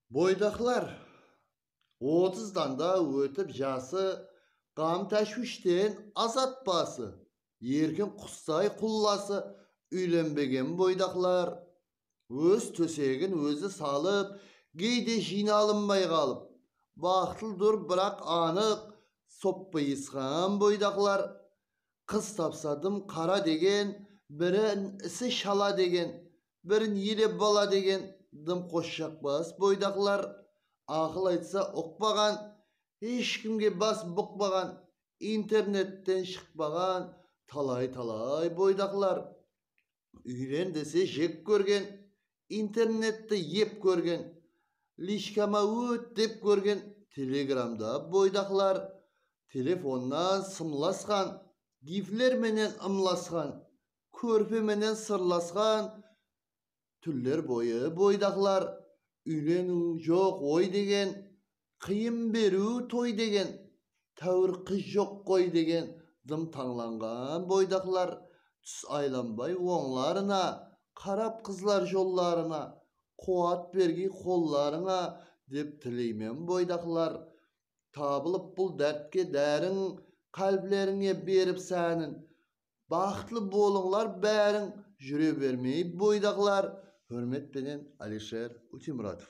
Boydaqlar otız dan da ótip jası, Ǵam-táshwishten azat bası, Erkin qustay qullası, Úylenbegen boydaqlar Óz tósegin ózi salıp, Geyde jıynalınbay qalıp. Baxıtlıdur biraq anıq, Soppıyısqan boydaqlar. Qız tapsa dım qara degen, Birin isi shala degen, birin ele bala degen dımqosh jakbas boydaqlar, aqıl aytsa uqpaǵan, hesh kimge bas buqpaǵan, internetten shıqpaǵan talay-talay boydaqlar, úylen dese jek kórgen, internetti ep kórgen, lichkama ót dep kórgen telegramda boydaqlar, telefonnan sımlasqan, gifler menen ımlasqan, kórpe menen sırlasqan túller boyı boydaqlar úyleniw joq oy degen qıyın beriw toy degen táwir qız joq qoy degen dım tańlanǵan boydaqlar tús aylanbay ońlarına qarap qızlar jollarına quwat bergiy qollarıńa dep tileymen boydaqlar tabılıp bul dártke dárin qálblerińe berip sánin baxıtlı bolıńlar báriń júre bermey boydaqlar húrmet penen Alisher Utimuratov.